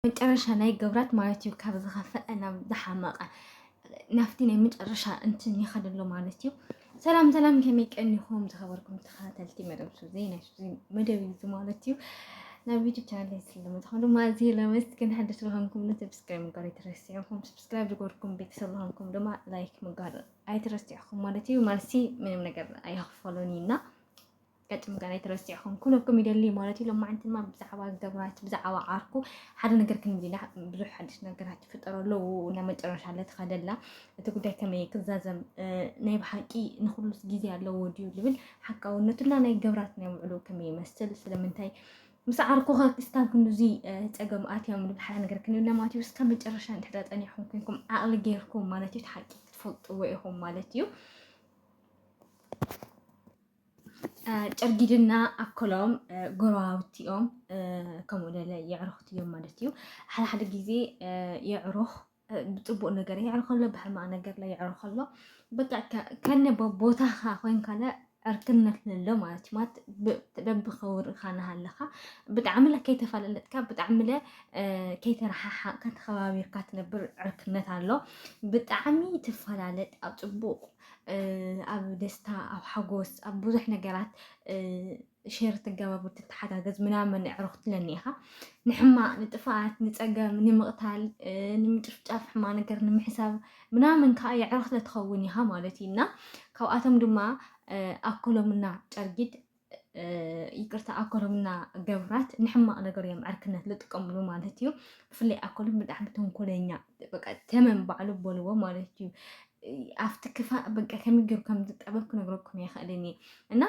መጨረሻ ናይ ገብራት ማለት እዩ ካብ ዝኸፈአ ናብ ዝሓመቐ ናብቲ ናይ መጨረሻ እንትን ይኸድ ኣሎ ማለት እዩ ሰላም ሰላም ከመይ ቀኒኹም ዝኸበርኩም ተኸታተልቲ መደብ ሱዚ ናይ ሱዚ መደብ እዩ ማለት እዩ ናብ ዩቱብ ቻናል ስለምትኾኑ ማዚ ለመስግን ሓድሽ ዝኾንኩም ንሰብስክራይብ ምግባር ኣይትረስዕኹም ሰብስክራይብ ዝገበርኩም ቤተሰብ ዝኾንኩም ድማ ላይክ ምግባር ኣይትረስዕኹም ማለት እዩ ማለሲ ምንም ነገር ኣይኽፈሎን እዩና ገጥም ገና ኣይተረሲዕኹም ኩነኩም ይደሊ ማለት እዩ። ሎማዓንቲ ድማ ብዛዕባ ገብራት ብዛዕባ ዓርኩ ሓደ ነገር ክንዲና ብዙሕ ሓድሽ ነገራት ይፍጠሩ ኣለዉ እና መጨረሻ ለትኸደላ እቲ ጉዳይ ከመይ ክዛዘም ናይ ብሓቂ ንኩሉስ ግዜ ኣለዎ ድዩ ዝብል ሓቃውነቱና ናይ ገብራት ናይ ውዕሉ ከመይ ይመስል ስለምንታይ ምስ ዓርኩኸ ክስካብ ክንዚ ፀገም ኣትዮም ዝብል ሓደ ነገር ክንዲና ማለት እዩ። እስከ መጨረሻ እንድሕዳ ፀኒዕኹም ኮንኩም ዓቕሊ ገይርኩም ማለት እዩ ሓቂ ክትፈልጥዎ ኢኹም ማለት እዩ። ጨርጊድና ኣኮሎም ጎረባብቲ እዮም ከምኡ ደለ የዕሩኽቲ እዮም ማለት እዩ ሓደ ሓደ ግዜ የዕሩኽ ብፅቡቅ ነገር የዕሩኽ ኣሎ ብሕማቅ ነገር ላይ የዕሩኽ ኣሎ በቃ ከነ ቦታኻ ኮይንካ ዕርክነት ለሎ ማለት እዩ ማለት በቢ ከውርካ ናሃለኻ ብጣዕሚ ለ ከይተፈላለጥካ ብጣዕሚ ለ ከይተረሓሓቅካ ተኸባቢርካ ትነብር ዕርክነት ኣሎ ብጣዕሚ ትፈላለጥ ኣብ ፅቡቅ ኣብ ደስታ ኣብ ሓጎስ ኣብ ብዙሕ ነገራት ሼር ትገባብር ትተሓጋገዝ ምናምን ኣዕሩኽ ትለኒ ኢኻ ንሕማቅ ንጥፍኣት ንፀገም ንምቕታል ንምጭፍጫፍ ሕማ ነገር ንምሕሳብ ምናምን ከዓ የዕሩኽ ትኸውን ኢኻ ማለት እዩ እና ካብኣቶም ድማ ኣኮሎምና ጨርጊድ ይቅርታ ኣኮሎም እና ገብራት ንሕማቅ ነገር እዮም ዕርክነት ዝጥቀምሉ ማለት እዩ ብፍላይ ኣኮሎም ብጣዕሚ ተንኮለኛ በቃ ተመን ባዕሉ በልዎ ማለት እዩ ኣብቲ ክፋእ በቃ ከመይ ገይሩ ከም ዝጠበብ ክነግረኩም ይኽእልን እየ እና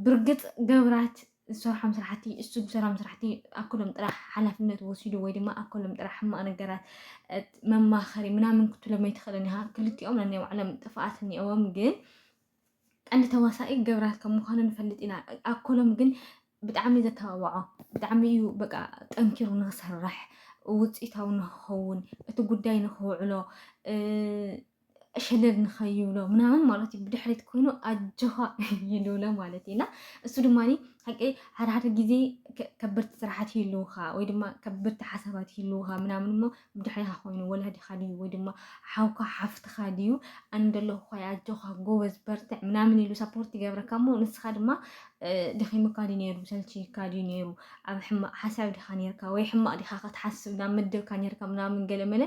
ብርግፅ ገብራት ዝሰርሖም ስራሕቲ እሱ ዝሰራም ስራሕቲ ኣኮሎም ጥራሕ ሓላፍነት ወሲዱ ወይ ድማ ኣኮሎም ጥራሕ ሕማቅ ነገራት መማኸሪ ምናምን ክትሎም ኣይትኽእልን ኢኻ ክልቲኦም ናይ ባዕሎም ጥፍኣት እኒኦዎም ግን ቀንዲ ተዋሳኢ ገብራት ከም ምዃኑ ንፈልጥ ኢና ኣኮሎም ግን ብጣዕሚ ዘተባብዖ ብጣዕሚ እዩ በቃ ጠንኪሩ ንክሰርሕ ውፅኢታዊ ንክኸውን እቲ ጉዳይ ንክውዕሎ ሸለል ንኸይብሎ ምናምን ማለት እዩ ብድሕሪት ኮይኑ ኣጆኻ ይልብሎ ማለት እዩ እና እሱ ድማ ሓቂ ሓደ ሓደ ግዜ ከበድቲ ስራሓት ይህልውኻ ወይ ድማ ከበድቲ ሓሳባት ይህልውኻ ምናምን እሞ ብድሕሬኻ ኮይኑ ወላዲኻ ድዩ ወይ ድማ ሓውካ ሓፍትኻ ድዩ ኣነ ደለኹ ኣጆኻ ጎበዝ በርትዕ ምናምን ኢሉ ሰፖርት ይገብረካ እሞ ንስኻ ድማ ደኺሙካ ድዩ ነይሩ ሰልችይካ ድዩ ነይሩ ኣብ ሕማቅ ሓሳብ ዲኻ ነርካ ወይ ሕማቅ ዲኻ ከትሓስብ ናብ መደብካ ነርካ ምናምን ገለመለ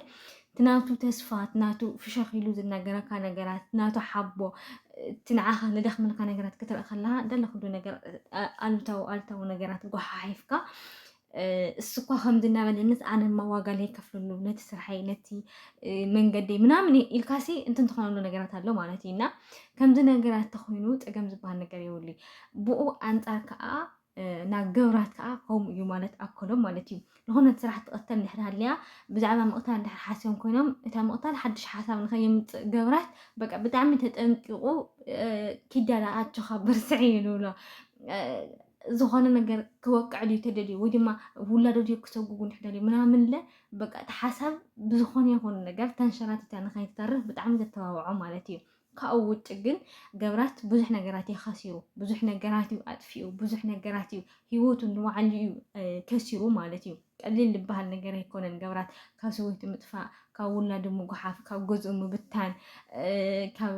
ትናቱ ተስፋ ትናቱ ፍሸኽ ኢሉ ዝናገረካ ነገራት ትናቱ ሓቦ እቲ ንዓኻ ዝደኽመልካ ነገራት ክትርኢ ከለካ ደለኩሉ ነገር ኣሉታዊ ኣሉታዊ ነገራት ጎሓሒፍካ እሱኳ ከምዚ እናበለንስ ኣነማ ዋጋ ለይከፍለሉ ነቲ ስርሓይ ነቲ መንገደይ ምናምን ኢልካሲ እንትን ትኾነሉ ነገራት ኣሎ ማለት እዩ እና ከምዚ ነገራት ተኮይኑ ፀገም ዝበሃል ነገር የብሉ ብኡ ኣንፃር ከዓ ናብ ገብራት ከዓ ከምኡ እዩ ማለት ኣኮሎም ማለት እዩ ንኾነት ስራሕ ትቐተል ንድሕር ሃልያ ብዛዕባ ምቕታል ንድሕር ሓስዮም ኮይኖም እታ ምቕታል ሓድሽ ሓሳብ ንኸየምፅእ ገብራት በቃ ብጣዕሚ ተጠንቂቑ ኪዳዳ ኣጆኻ በርስዒ እዩ ንብሎ ዝኾነ ነገር ክወቅዕ ድዩ ተደልዩ ወይ ድማ ውላዶ ድዩ ክሰጉጉ ንሕደልዩ ምናምንለ በቃ እቲ ሓሳብ ብዝኾነ ይኹን ነገር ተንሸራቲታ ንኸይትተርፍ ብጣዕሚ ዘተባብዖ ማለት እዩ ካብኡ ውጭ ግን ገብራት ብዙሕ ነገራት እዩ ከሲሩ ብዙሕ ነገራት እዩ ኣጥፊኡ ብዙሕ ነገራት እዩ ሂወቱ ንባዕሉ እዩ ከሲሩ ማለት እዩ ቀሊል ልበሃል ነገር ኣይኮነን ገብራት ካብ ሰበይቱ ምጥፋእ ካብ ውላዱ ምጉሓፍ ካብ ገዝኡ ምብታን ካብ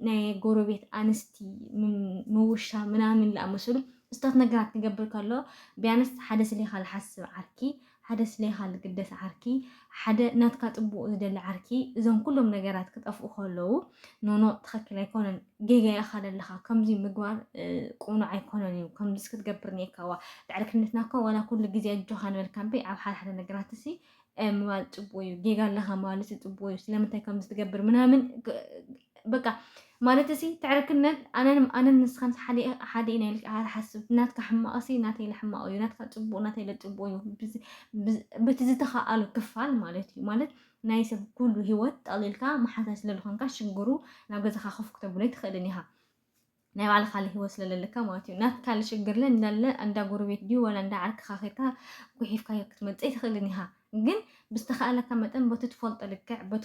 ናይ ጎረቤት ኣንስቲ ምውሻ ምናምን ዝኣመሰሉ እስታት ነገራት ክገብር ከሎ ቢያንስ ሓደ ስሌኻ ዝሓስብ ዓርኪ ሓደ ስሌኻ ዝግደስ ዓርኪ ሓደ ናትካ ጽቡቅ ዝደሊ ዓርኪ እዞም ኩሎም ነገራት ክጠፍኡ ከለዉ ኖኖ ትክክል ኣይኮነን ጌጋ ኢካ ዘለካ ከምዚ ምግባር ቁኑዕ ኣይኮነን እዩ ከምዚስ ክትገብር ኔካዋ ድሕሪ ክነትና እኮ ዋላ ኩሉ ግዜ ኣጆካ ንበልካ እምበይ ኣብ ሓደ ሓደ ነገራት ሲ ምባል ጽቡቅ እዩ ጌጋ ኣለካ ምባል ሲ ጽቡቅ እዩ ስለምንታይ ከምዚ ትገብር ምናምን በቃ ማለት'ሲ ትዕርክነት ኣነን ኣነን ንስኻን ሓደ ሓደ ኢና ኢልካ ኣይትሓስብ። ናትካ ሕማቕ'ሲ ናተይ ለሕማቑ'ዩ፣ ናትካ ጽቡቕ ናተይ ለጽቡቕ'ዩ፣ በቲ ዝተኻኣሎ ክፋል ማለት'ዩ። ማለት ናይ ሰብ ኩሉ ሂወት ጠቕሊልካ መሓዛይ ስለልኾንካ ሽግሩ ናብ ገዛኻ ኮፍ ክተብሎ ኣይትኽእልን ኢኻ። ናይ ባዕልኻ ሂወት ስለለለካ ማለት'ዩ። ናትካ ለሽግርለ እንዳለ እንዳ ጎረቤት ድዩ ዋላ እንዳ ዓርክኻ ኬድካ ጉሒፍካዮ ክትመጽእ ኣይትኽእልን ኢኻ። ግን ብዝተኻእለካ መጠን በቲ ትፈልጦ ልክዕ በቲ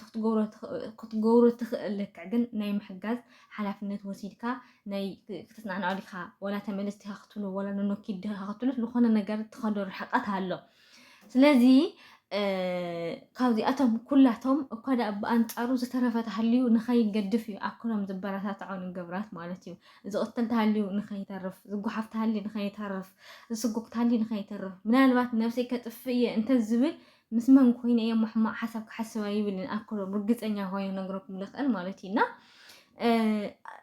ክትገብሮ ትኽእል ልክዕ ግን ናይ ምሕጋዝ ሓላፍነት ወሲድካ ናይ ክትጽናንዖ ዲኻ ወላ ተመለስ ዲኻ ክትብሉ ወላ ንኖኪድ ዲኻ ክትብሉ ዝኾነ ነገር ትኸዶ ርሕቀት ኣሎ ስለዚ ካብዚኣቶም ኩላቶም እኳ ደኣ ብኣንጻሩ ዝተረፈ ተሃልዩ ንኸይገድፍ እዩ ኣክሎም ዝበረታትዖ ንገብራት ማለት እዩ ዝቕተል ተሃልዩ ንኸይተርፍ፣ ዝጓሓፍ ተሃልዩ ንኸይተርፍ፣ ዝስጎግ ተሃልዩ ንኸይተርፍ፣ ምናልባት ነብሰይ ከጥፍእ እየ እንተዝብል ምስ መን ኮይነ እየ እሞ ሕማቕ ሓሳብ ክሓስብ ኣይብልን ኣክሎ ብርግፀኛ ኮይኑ ክነግረኩም ልኽእል ማለት እዩ እና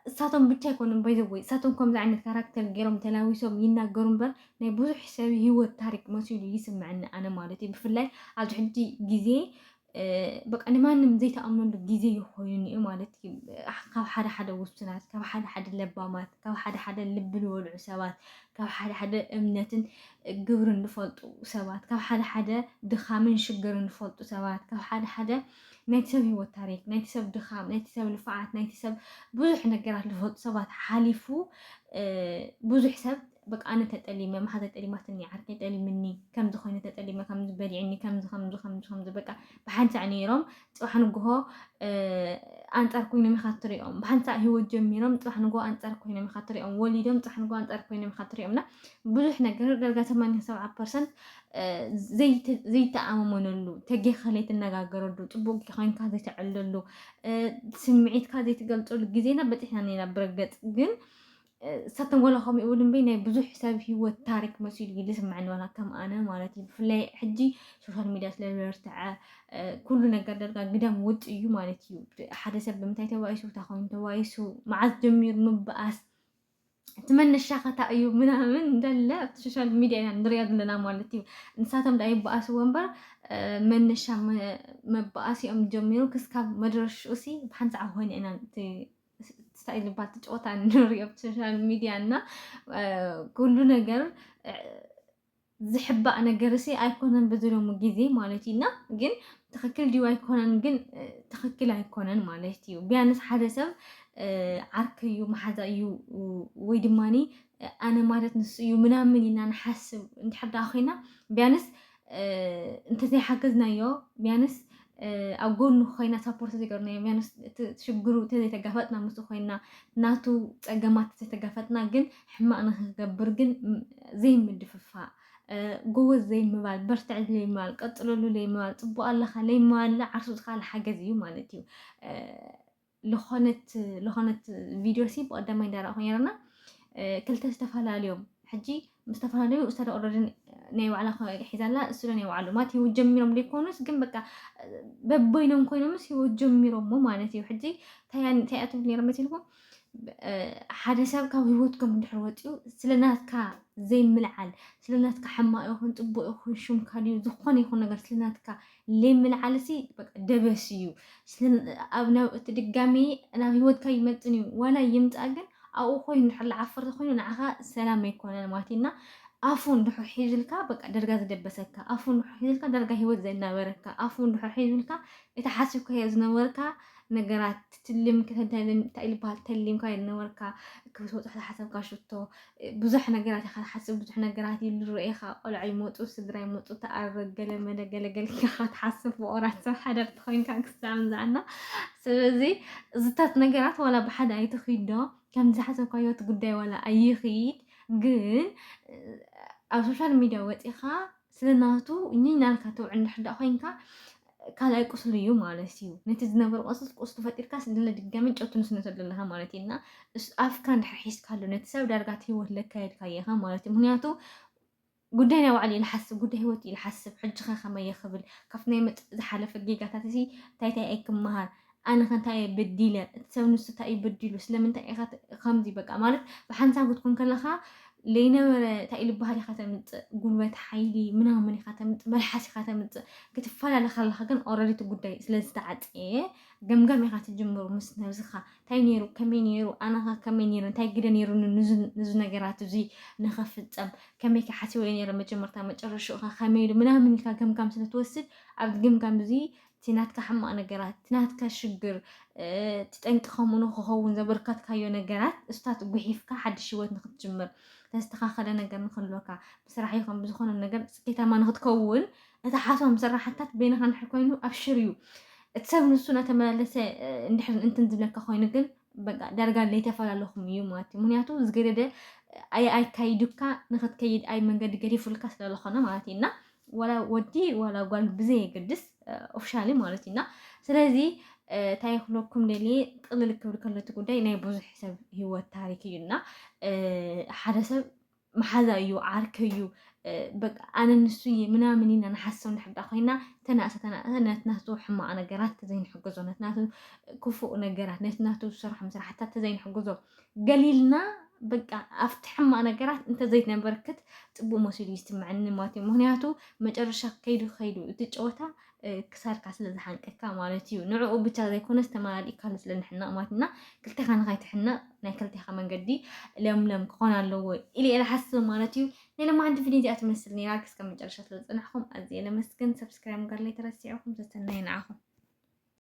እሳቶም ብቻ ኣይኮኑን ባይዘወይ እሳቶም ከምዚ ዓይነት ካራክተር ገይሮም ተላዊሶም ይናገሩ እምበር ናይ ብዙሕ ሰብ ሂወት ታሪክ መሲሉ ይስምዐኒ ኣነ ማለት እዩ ብፍላይ ኣብዚ ሕጂ ግዜ በቃ ንማንም ዘይተኣምነሉ ግዜ እዩ ኮይኑ እዩ ማለት እዩ። ካብ ሓደ ሓደ ውሱናት፣ ካብ ሓደ ሓደ ለባማት፣ ካብ ሓደ ሓደ ልቢ ዝበልዑ ሰባት፣ ካብ ሓደ ሓደ እምነትን ግብርን ዝፈልጡ ሰባት፣ ካብ ሓደ ሓደ ድኻምን ሽግርን ዝፈልጡ ሰባት፣ ካብ ሓደ ሓደ ናይቲ ሰብ ህይወት ታሪክ፣ ናይቲ ሰብ ድኻም፣ ናይቲ ሰብ ልፍዓት፣ ናይቲ ሰብ ብዙሕ ነገራት ዝፈልጡ ሰባት ሓሊፉ ብዙሕ ሰብ በቃ ኣነ ተጠሊመ መሓዘ ጠሊማትኒ ዓርከይ ጠሊምኒ ከምዚ ኮይኑ ተጠሊመ ከምዚ በሊዕኒ ከምዚ ከምዚ ከምዚ ከምዚ በቃ ብሓንሳእ ነይሮም ፅባሕ ንግሆ ኣንፃር ኮይኖም ኢኻ ትሪኦም ብሓንሳእ ሂወት ጀሚሮም ፅባሕ ንግሆ ኣንፃር ኮይኖም ኢኻ ትሪኦም ወሊዶም ፅባሕ ንግሆ ኣንፃር ኮይኖም ኢኻ ትሪኦም እና ብዙሕ ነገር ዳርጋ 87 ፐርሰንት ዘይተኣማመነሉ ተጌኻ ዘይትነጋገረሉ ፅቡቅ ኮይንካ ዘይተዕለሉ ስምዒትካ ዘይትገልፀሉ ግዜና በፂሕና ነና ብረገፅ ግን እሳተን ወላ ከምኡ ይብሉ እምበይ ናይ ብዙሕ ሰብ ሂወት ታሪክ መሲሉ እዩ ዝስምዐኒ ዋላ ከም ኣነ ማለት እዩ ብፍላይ ሕጂ ሶሻል ሚድያ ስለ ዝበርትዐ ኩሉ ነገር ደርጋ ግዳም ውጥ እዩ ማለት እዩ ሓደ ሰብ ብምንታይ ተባኢሱ እንታይ ኮይኑ ተባኢሱ መዓዝ ጀሚሩ ምበኣስ እቲ መነሻኸታ እዩ ምናምን እንዳለ ኣብቲ ሶሻል ሚድያ ኢና ንሪኦ ዘለና ማለት እዩ ንሳቶም ዳ ይበኣስዎ እምበር መነሻ መበኣሲኦም ጀሚሩ ክስካብ መድረሽኡ ሲ ብሓንሳዕ ኮይነ ኢና ስታይል ባቲ ጨወታ ንሪኦ ኣብ ሶሻል ሚድያ እና ኩሉ ነገር ዝሕባእ ነገር ሲ ኣይኮነን ብዝሎሙ ግዜ ማለት እዩ እና ግን ትክክል ድዩ ኣይኮነን ግን ትክክል ኣይኮነን ማለት እዩ ቢያንስ ሓደ ሰብ ዓርክ እዩ መሓዛ እዩ ወይ ድማኒ ኣነ ማለት ንሱ እዩ ምናምን ኢና ንሓስብ እንድሕር ኮይና ቢያንስ እንተዘይ ሓገዝናዮ ቢያንስ ኣብ ጎኑ ኮይና ሳፖርት ዘይገርናዮ ቢያንስ ሽግሩ ተዘይተጋፈጥና ምስ ኮይና ናቱ ፀገማት ተዘይተጋፈጥና ግን ሕማቅ ንክገብር ግን ዘይምድፍፋእ ጎበዝ ዘይምባል በርትዕ ዘይምባል ቀፅለሉ ዘይምባል ፅቡቅ ኣለካ ዘይምባል ዓርሱ ዝካል ሓገዝ እዩ ማለት እዩ ለኾነት ቪድዮ ሲ ብቐዳማይ እንዳረእኹ ነይረና ክልተ ዝተፈላለዮም ሕጂ ዝተፈላለዩ እሳደ ኦረዲ ናይ ባዕላ ሒዛላ እሱ ናይ ባዕሉ ማለት ህይወት ጀሚሮም ዘይኮኑስ ግን በቃ በበይኖም ኮይኖምስ ህይወት ጀሚሮሞ ማለት እዩ ሕጂ ታያ ትብል ነይረ መሲልኩም ሓደ ሰብ ካብ ህይወትኩም እንድሕር ወፂኡ ስለናትካ ዘይምልዓል ስለናትካ ሕማቅ ይኹን ፅቡቅ ይኹን ሽምካ ድዩ ዝኾነ ይኹን ነገር ስለናትካ ለይምልዓልሲ በቃ ደበስ እዩ ኣብ ናብ እቲ ድጋሚ ናብ ህይወትካ ይመጥን እዩ ዋላ ይምፃእ ግን ኣብኡ ኮይኑ ድሕር ልዓፍር ተኮይኑ ንዓኻ ሰላም ኣይኮነን ማለት እዩ እና ኣፉ እንድሕር ሒዙልካ በቃ ደርጋ ዝደበሰካ ኣፉ እንድሕር ሒዙልካ ደርጋ ህይወት ዘናበረካ ኣፉ እንድሕር ሒዙልካ እቲ ሓሲብካዮ ዝነበርካ ነገራት ትልም ከተንታይልን እንታይ ዝበሃል ተሊምካ ዝነበርካ ክትወፅሕ ዝሓሰብካ ሽቶ ብዙሕ ነገራት ኢኻ ትሓስብ ብዙሕ ነገራት ይልረኤኻ ቆልዑ ይመፁ ስድራ ይመፁ ተኣርግ ገለ መለ ገለ ገለ ኢኻ ትሓስብ ፍቑራት ሰብ ሓደርቲ ኮይንካ ክሳብ ዝኣና ስለዚ እዚታት ነገራት ዋላ ብሓደ ኣይትኺዶ ከም ዝሓሰብካዮ እቲ ጉዳይ ዋላ ኣይኺድ ግን ኣብ ሶሻል ሚድያ ወፂኻ ስለ ናቱ እኝኝ ናልካ ተውዕል እንድሕር ደኣ ኮይንካ ካልኣይ ቁስሉ እዩ ማለት እዩ ነቲ ዝነበረ ቁስል ቁስሉ ፈጢርካስ ድለ ድጋሚ ጨው ትንስንሰሉ ኣለኻ ማለት እዩ እና እስ- ኣፍካ እንድሕር ሒዝካሉ ነቲ ሰብ ዳርጋ እቲ ህይወት ለካየድካዮ ኢኻ ማለት እዩ ምክንያቱ ጉዳይ ናይ ባዕሉ እዩ ዝሓስብ ጉዳይ ህይወት እዩ ዝሓስብ ሕጂ ከ ከመይ ይኽብል ካብቲ ናይ መጽ ዝሓለፈ ጌጋታት እዚ እንታይ እንታይ ኣይክመሃር ኣነኸ እንታይ እየ በዲለ እቲ ሰብ ንሱ እንታይ እዩ በዲሉ ስለምንታይ ኢኻ ከምዚ በቃ ማለት ብሓንሳብ ክትኮን ከለኻ ለይነበረ እንታይ እዩ ልባሃል ኢኻ ተምፅእ ጉልበት ሓይሊ ምናምን ኢኻ ተምፅእ መልሓስ ኢኻ ተምፅእ ክትፈላለ ከለኻ ግን ኦረዲ እቲ ጉዳይ ስለዝተዓፀየ ገምጋም ኢኻ ትጅምሩ ምስ ነብስኻ እንታይ ነይሩ ከመይ ነይሩ ኣነኻ ከመይ ነይሩ እንታይ ግደ ነይሩኒ ንዚ ነገራት እዚ ንኸፍፀም ከመይ ከ ሓሲበ ነይረ መጀመርታ መጨረሽኡ ኸ ከመይ ኢሉ ምናምን ኢልካ ገምጋም ስለትወስድ ኣብዚ ገምጋም እዚ እቲ ናትካ ሕማቕ ነገራት፣ እቲ ናትካ ሽግር፣ እቲ ጠንቂ ከምኡ ንክኸውን ዘበርከትካዮ ነገራት እሱታት ጉሒፍካ ሓድሽ ህይወት ንክትጅምር ተስተኻኸለ ነገር ንክህልወካ ብስራሕ ይኹን ብዝኾነ ነገር ስኬታማ ንክትከውን እቲ ሓሶም ስራሕታት በይንኻ እንድሕር ኮይኑ ኣብሽር እዩ እቲ ሰብ ንሱ እናተመላለሰ እንድሕር እንትን ዝብለካ ኮይኑ ግን በቃ ዳርጋ ለይተፈላለኹም እዩ ማለት እዩ ምክንያቱ ዝገደደ ኣይካይዱካ ንክትከይድ ኣይ መንገዲ ገዲፉልካ ስለዝኾነ ማለት እዩ እና ዋላ ወዲ ዋላ ጓል ብዘየገድስ ኦፍሻሊ ማለት እዩ እና ስለዚ እንታይ ክብለኩም ደልየ ጥቕልል ክብል ከሎ እቲ ጉዳይ ናይ ብዙሕ ሰብ ሂወት ታሪክ እዩ እና ሓደ ሰብ መሓዛይ እዩ ዓርከይ እዩ በቃ ኣነ ንሱ እየ ምናምን ኢና ንሓስብ ንሕዳ ኮይና ተናእሰ ተናእሰ ነቲ ናቱ ሕማቕ ነገራት ተዘይንሕግዞ ነቲ ናቱ ክፉእ ነገራት ነቲ ናቱ ዝሰርሖም ስራሕታት ተዘይንሕግዞ ገሊልና በቃ ኣብቲ ሕማቕ ነገራት እንተዘይነበርክት ፅቡቅ መሲሉ ይስምዐኒ ማለት እዩ ምክንያቱ መጨረሻ ከይዱ ከይዱ እቲ ጨወታ ክሳድካ ስለ ዝሓንቀካ ማለት እዩ ንዕኡ ብቻ ዘይኮነስ ተመላሊእካሉ ስለ ንሕነቕ ማለት እና ክልቴኻ ንኸይትሕነቕ ናይ ክልቴኻ መንገዲ ለምለም ክኾን ኣለዎ ኢለ እየ ዝሓስብ ማለት እዩ ናይ ለማዓንቲ ቪድዮ እዚኣ ትመስል ነይራ ክስከ መጨረሻ ስለ ዝፅናሕኩም ኣዝየ ለመስግን ሰብስክራይብ ጋር ላይ ተረሲዕኹም ሰሰናይ ንዓኹም